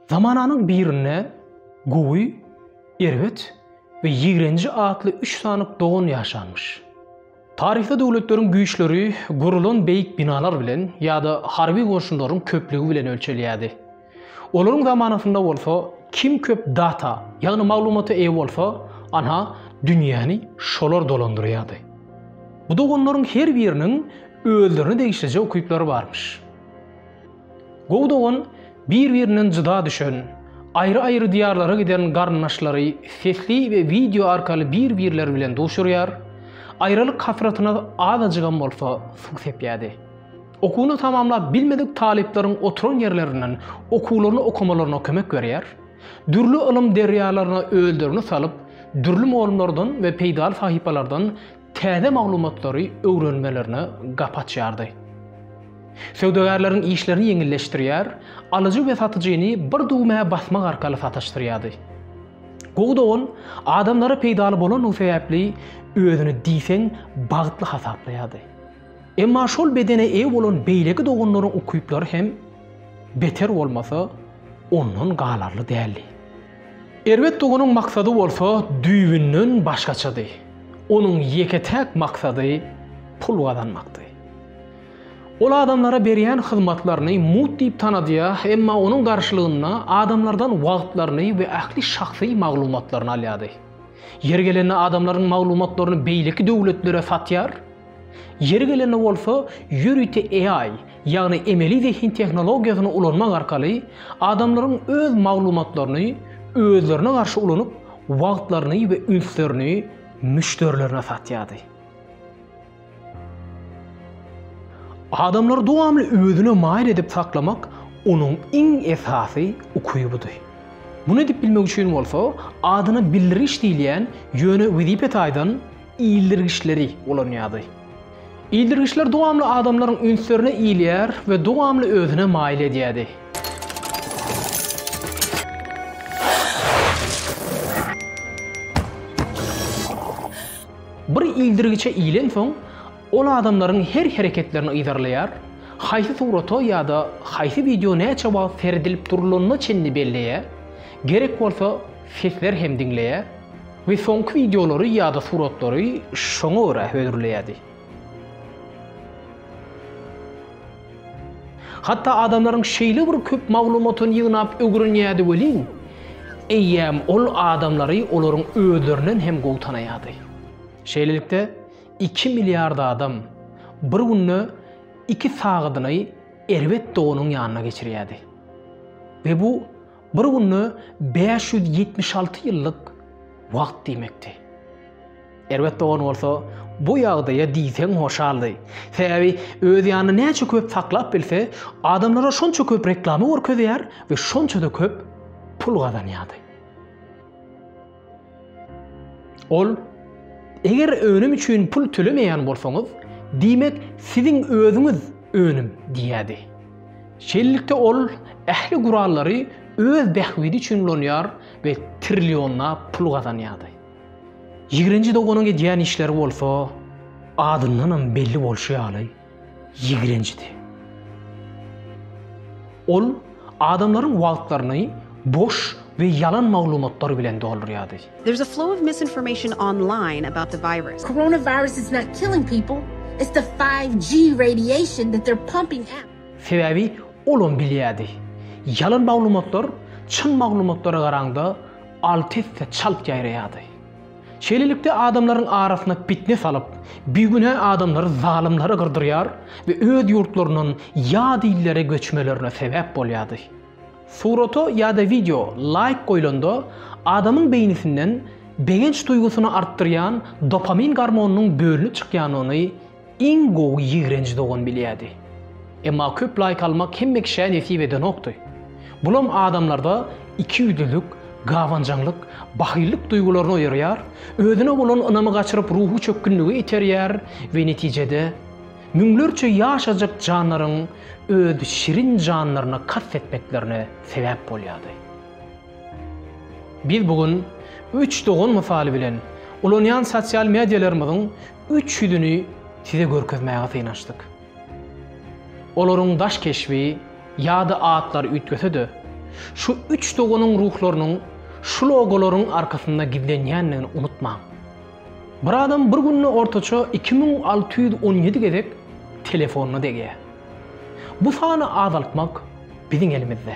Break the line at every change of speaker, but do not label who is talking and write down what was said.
Zamananyň birinde Gowy, Erbet we Ýigrenji atly üç sany dogan ýaşanmyş. Taryhda döwletleriň güýçleri gurulan beýik binalar bilen ýa-da harby goşunlaryň köplügi bilen ölçelýärdi. Olaryň zamanasynda bolsa kim köp data, ýagny maglumata eýe bolsa, ana, dünýäni şolar dolandyrýardy. Bu doganlaryň her biriniň özlerine degişlije ukyplary barmyş. Gowy dogan bir-birinden jyda düşen, aýry-aýry diýarlara giden garyndaşlary sesli we wideo arkaly bir-birleri bilen duşurýar, aýralyk hasratyna azajygam bolsa suw sepýärdi. Okuwyny tamamlap bilmedik talyplaryň oturan ýerlerinden okuwlaryny okamalaryna kömek berýär, dürli ylym derýalaryna özlerini salyp, dürli mugallymlardan we peýdaly sahypalardan täze maglumatlary öwrenmelerine gapy açýardy. Söwdagärleriň işlerini ýeňilleşdirýär, alyjy we satyjyny bir düwmä basmak arkaly sataşdyrýardy. Gowy dogan adamlara peýdaly bolandygy sebäpli özüni diýseň bagtly hasaplaýardy. Emma şol bedene eýe bolan beýleki doganlaryň ukyplary hem beter bolmasa ondan galarly däldi. Erbet doganuň maksady bolsa düýbünden başgaçady. Onuň ýeke-täk maksady pul gazanmakdy. Ol adamlara berýän hyzmatlaryny mugt diýip tanadýa, emma onuň garşylygynda adamlardan wagtlaryny we ähli şahsy maglumatlaryny alýady. Ýeri gelende adamlaryň maglumatlaryny beýleki döwletlere satýar, ýeri gelende bolsa ýörite AI, ýagny emeli zehin tehnologiýasyny ulanmak arkaly adamlaryň öz maglumatlaryny özlerine garşy ulanyp, wagtlaryny we ünslerini müşderilerine satýardy. Adamlary dowamly özüne maýyl edip saklamak onuň iň esasy ukybydy. Muny edip bilmek üçin bolsa adyna bildirgiç diýilýän ýöne wezipe taýdan ildirgiçleri ulanýardy. Ildirgiçler dowamly adamlaryň ünslerini ilýär we dowamly özüne maýyl edýärdi. Bir ildirgiçe ilensoň, ol adamlaryň her hereketlerini yzarlaýar, haýsy surata ýa-da haýsy wideo näçe wagt seredilip durlanyna çenli belleýär, gerek bolsa sesler hem diňleýär. We soňky wideolary ýa-da suratlary şoňa görä hödürleýärdi. Hatda adamlaryň şeýle bir köp maglumatyny ýygnap ögrenýärdi welin, eýýäm ol adamlary olaryň özlerinden hem gowy tanaýardy. Şeýlelikde, iki milliard adam bir günde iki sagadyny erbet doganyň ýanyna geçirýärdi. We bu Bir günde bäş ýüz ýetmiş alty ýyllyk wagt diýmekdi. Erbet dogan bolsa bu ýagdaýa diýseň hoşaldy. Sebäbi öz ýanynda näçe köp saklap bilse, adamlara şonça köp reklama görkezýär we şonça-da köp pul gazanýardy. Ol, Eger önüm üçin pul tölemeýän bolsaňyz, diýmek, siziň özüňiz önüm diýýärdi. Şeýlelikde ol ähli gurallary öz bähbidi üçin ulanýar we trillionlap pul gazanýardy. Ýigrenji doganyň edýän işleri bolsa, adyndanam belli bolşy ýaly, ýigrenjidi. Ol adamlaryň wagtlaryny boş we ýalan maglumatlar bilen doldurýardy. There's a flow of
misinformation online about the virus. Coronavirus is not
killing people, it's the five G radiation that they're pumping out. Sebäbi
olam bilýärdi. Ýalan maglumatlar çyn maglumatlara garaňda alty esse çalt ýaýraýardy. Şeýlelikde, adamlaryň arasyna pitne salyp, bigünä adamlary, zalymlary gyrdyrýar we öz ýurtlaryndan ýat illere göçmelerine sebäp bolýardy. Surata ýa-da wideo laýk goýlanda, adamyň beýnisinden begenç duýgusyny artdyrýan dopamin gormonynyň bölünip çykýandygyny Iň gowy ýigrenji dogan bilýädi. Emma köp laýk almak hemme kişä nesip edenokdy. Bulam adamlarda ikiýüzlülik, gabanjaňlyk, bahyllyk duýgularyny oýarýar, özüne bolan ynamy gaçyryp ruhy çökgünlige iterýär we netijede müňlerçe ýaşajak jandaryň öz şirin janlaryna kast etmeklerine sebäp bolýardy. Biz bu gün üç dogan mysaly bilen ulanýan sosial medialarymyzyň üç ýüzüni size görkezmäge synanyşdyk. Olaryň daş keşbi ýa-da atlary üýtgese-de, şu üç doganyň ruhlarynyň şu logolaryň arkasynda gizlenýändigini unutmaň. Bir adam bir günde ortaça iki müň alty ýüz on ýedi gezek telefonyna degýär. Bu sany azaltmak biziň elimizde.